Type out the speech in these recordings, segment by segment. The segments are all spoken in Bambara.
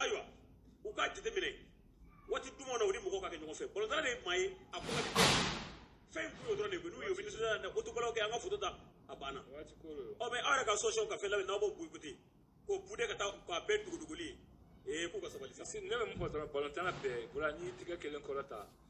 ayiwa u k'a jateminɛ waati duman na u ni mɔgɔw ka kɛ ɲɔgɔn fɛ balontanna de ye maa ye a ko ka di fɛn in kun dɔrɔn de n'u ye minisiriya la o tubalaw kɛ an ka foto ta a banna ɔ mɛ aw yɛrɛ ka sɔsɔw ka fɛn labɛn n'aw b'o boyikote k'o bude ka taa k'a bɛɛ duguduguli ee k'u ka sabali sa ne bɛ mun fɔ dɔrɔn balontanna bɛɛ bɔra n'i tigɛ kelen kɔrɔ ta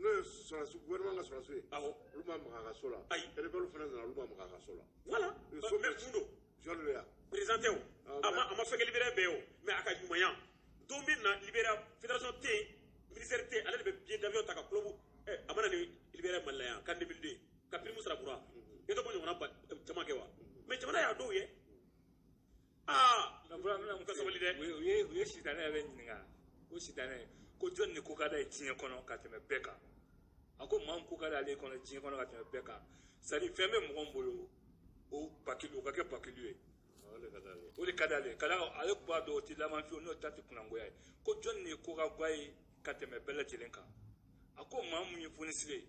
n'o ye sɔrɔdasi gouvernement ka sɔrɔdasiw ye awɔ olu ma maga a ka so la ayi rebelle fana nana olu ma maga a ka so la voilà mais mun don george weah président tɛ o a ma a ma fɛn kɛ libéria bɛɛ ye o mais a ka ɲumanya don min na libéria fédération tɛ yen ministère tɛ yen ale de bɛ billet d'avion ta ka club ɛ a ma na ni libéria mali la yan can 2002 ka prime sara bura i tɛ ko ɲɔgɔnna caman kɛ wa mais jamana y'a dɔw ye aa nka fura mina mun ka sabali dɛ u ye u ye sitanɛ yɛrɛ ɲininka ko sitanɛ ko jɔni de ko ka d'a ye diɲɛ kɔnɔ ka tɛmɛ bɛɛ kan a ko maa min ko ka d'ale kɔnɔ diɲɛ kɔnɔ ka tɛmɛ bɛɛ kan c'est à dire fɛn bɛ mɔgɔ min bolo o bakili o ka kɛ bakili ye o de ka d'ale ye o de ka d'ale ye ka d'a kan ale b'a dɔn o tɛ laban fiyewu n'o ta tɛ kunangoya ye ko jɔni de ko ka go a ye ka tɛmɛ bɛɛ lajɛlen kan a ko maa min ye fonisire ye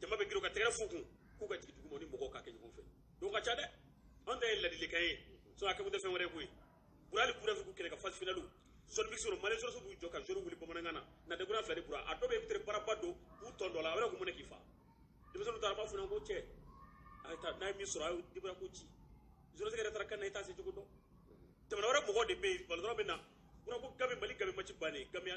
jama bɛ girin ka tɛgɛ f'u kun k'u ka jigin duguma ni mɔgɔw ka kɛ ɲɔgɔn fɛ don ka ca dɛ an ta ye ladilikan ye sɔn a kɛkun tɛ fɛn wɛrɛ ye koyi bura hali kura fɛ kɛlɛ ka fasi finaliw sɔrɔ sɔrɔ mali sɔrɔsiw b'u jɔ ka zoro wuli bamanankan na na degura fila de bura a dɔw bɛ peut-être baraba don k'u tɔn dɔ la a bɛ ko mun na k'i fa denmisɛnninw taara b'a fɔ ko cɛ a ye taa n'a ye min sɔrɔ a ye dibara ko ci zorosi yɛrɛ taara kan na i t'a se cogo dɔn jamana wɛrɛ mɔgɔ de bɛ yen balɔrɔ bɛ na bura ko ganbi mali ganbi match bannen gamiya